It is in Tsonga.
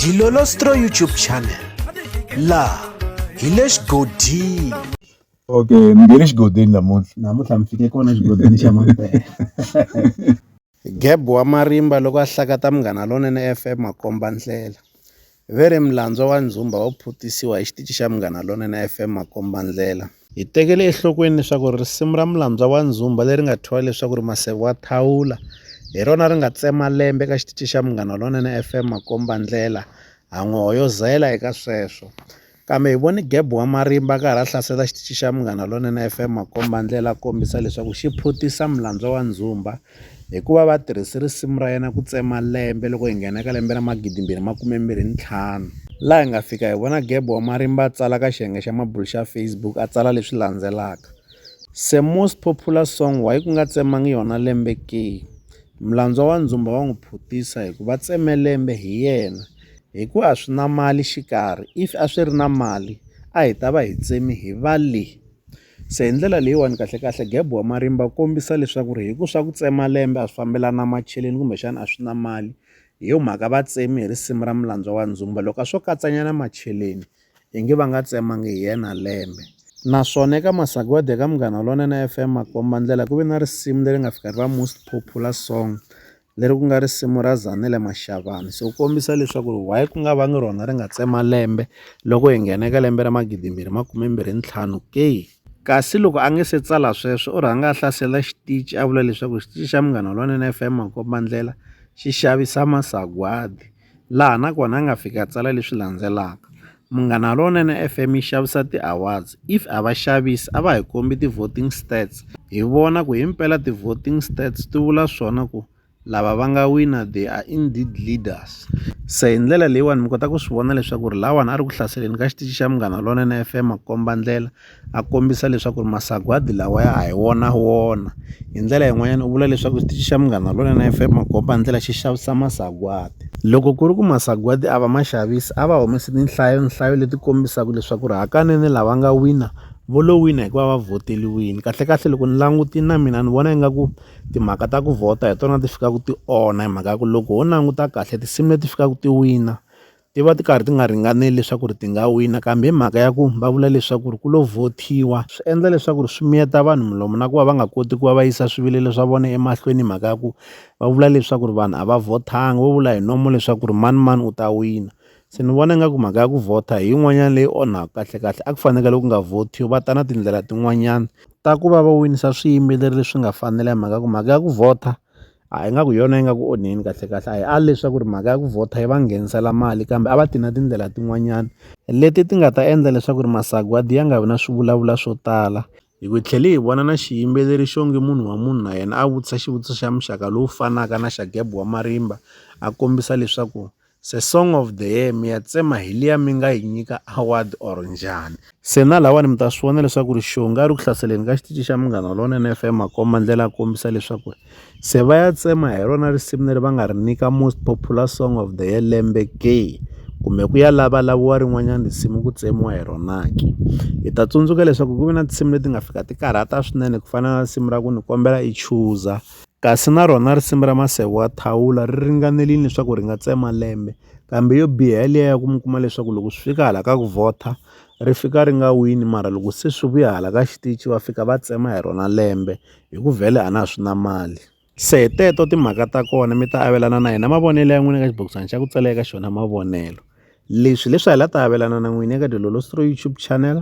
Dilolostro YouTube channel laha hi le xigodini okay ni nge le xigodini namuntlha namuntlha mi fike kona xigodini xa mampela geb wa marimba loko a hlakata munghana lonene fm makomba ndlela ve ri milandzo wa ndzumba wo phutisiwa hi xitici xa munghana lonene fm makomba ndlela Hi tekele enhlokweni leswaku risimu ra Mulandzwa wa Ndzumba leri nga thyiwa leswaku ri Maseve wa Thawula hi rona ri nga tsema lembe eka xitichi xa Munghana Lonene FM makombandlela ha n'wi hoyozela eka sweswo. Kambe hi vone Geb wa Marimba a karhi a hlasela xitichi xa Munghana Lonene FM makombandlela a kombisa leswaku xi phutisa Mulandzwa wa Ndzumba Hikuva va tirhise risimu ra yena ku tsema lembe loko hi nghena ka lembe ra magidimbirhi makumembirhi ntlhanu. Laha hi nga fika hi vona Gebo wa marimba a tsala ka xiyenge xa mabulu xa Facebook a tsala leswi landzelaka, Se most popular song why ku nga tsemangi yona lembe ke? Mlandzwa wa ndzumba wa n'wi phutisa hi ku va tseme lembe hi yena hi ku a swi na mali xikarhi if a swi ri na mali a hi ta va hi tsemi hi va le. Se hi ndlela leyiwani kahlekahle gap wa marimba wu kombisa leswaku ri hi ku swa ku tsema lembe a swi fambelani na macheleni kumbexana a swi na mali hi yo mhaka va tsemi hi risimu ra mulandzwa wa ndzumba loko a swo katsanyana macheleni hi nge va nga tsemangi hi yena lembe naswona eka masagwadi eka munghana lowunene FM makomba ndlela ku ve na risimu leri nga fika ri va most popular song leri ku nga risimu ra Zanele Mashavani so ku kombisa leswaku ri why ku nga va ngi rona ri nga tsema lembe loko hi nghena eka lembe ra magidimbirhi makume mbirhi ntlhanu ke kasi loko a nge se tsala sweswo u rhanga a hlasela xitichi a vula leswaku xitichi xa munghana lwanene F_M makombandlela xi xavisa masagwadi. laha na kona a nga fika a tsala leswi landzelaka, Munghana Lonene FM yi xavisa ti-awards, if a va xavisi a va hi kombi ti-voting stats hi vona ku himpela ti-voting stats ti vula swona ku lava va nga wina they are indeed leaders. Se hi ndlela leyiwani mi kota ku swi vona leswaku ri lahawani a ri ku hlaseleni ka xitichi xa Munghana Lonene FM makombandlela. a kombisa leswaku ri masagwadi lawa ya ha hi wona wona hi ndlela yin'wanyana u vula leswaku xitichi xa munghana lonene F_M makombandlela xi xavisa masagwadi loko ku ri ku masagwadi a va ma xavisi a va humesi tinhlayo nhlayo leti kombisaka leswaku ri hakanene lava nga wina vo lo wina hikuva va vhoteliwini kahlekahle loko ni langutile na mina ni vona ingaku timhaka ta ku vhota hi tona ti fikaka ti onha hi mhaka ya ku loko ho languta kahle tinsimu leti fikaka ti wina ti va ti karhi ti nga ringaneli leswaku ri ti nga wina kambe hi mhaka ya ku va vula leswaku ri ku lo vhothiwa swi endla leswaku ri swi miyeta vanhu milomu na ku va va nga koti ku va va yisa swivilelo swa vona emahlweni hi mhaka ya ku va vula leswaku ri vanhu a va vhothanga vo vula hi nomo leswaku ri mani mani u ta wina se ni vona ingaku mhaka ya ku vhotha hi yin'wanyana leyi onhaka kahlekahle a ku fanekele ku nga vhothiwi va ta na tindlela tin'wanyana ta ku va va winisa swiyimbeleri leswi nga fanela hi mhaka ku mhaka ya ku vhotha. a hi nga ku hi yona yi nga ku onheni kahlekahle a hi ali leswaku ri mhaka ya ku vhotha yi va nghenisela mali kambe a va ti na tindlela tin'wanyana leti ti nga ta endla leswaku ri masagwadi ya nga vi na swivulavula swo tala hi ku tlhele hi vona na xiyimbeleri xo nge munhu wa munhu na yena a vutisa xivutiso xa muxaka lowu fanaka na xa geb wa marimba a kombisa leswaku Se song of the year mi ya tsema hi liya mi nga yi nyika award or njhani se na lawani mi ta swi vona leswaku ri xonga ri ku hlaseleni ka xitici xa munghana lonene f m makomba ndlela a kombisa leswaku ri se va ya tsema hi rona risimu leri va nga ri nyika most popular song of the year lembe ke kumbe ku ya lavalaviwa rin'wanyana risimu ku tsemiwa hi rona ke hi ta tsundzuka leswaku ku ve na tinsimu leti nga fika ti karhata swinene ku fana na risimu ra ku ni kombela i chuza Kasi na rona risimu ra maseve wa thawula ri ringanelini leswaku ri nga tsema lembe, kambe yo biha hi liya ya ku mi kuma leswaku loko swi fika hala ka ku vhotha ri fika ri nga wini mara loko se swi vuya hala ka xitichi va fika va tsema hi rona lembe hi ku vhele a na ha swi na mali. Se hi teto timhaka ta kona mi ta avelana na hina mavonelo ya n'wina ka xibokisana xa ku tsala eka xona mavonelo. Leswi hileswi a hi la ta avelana na n'wina eka Dilolo Stroy YouTube channel.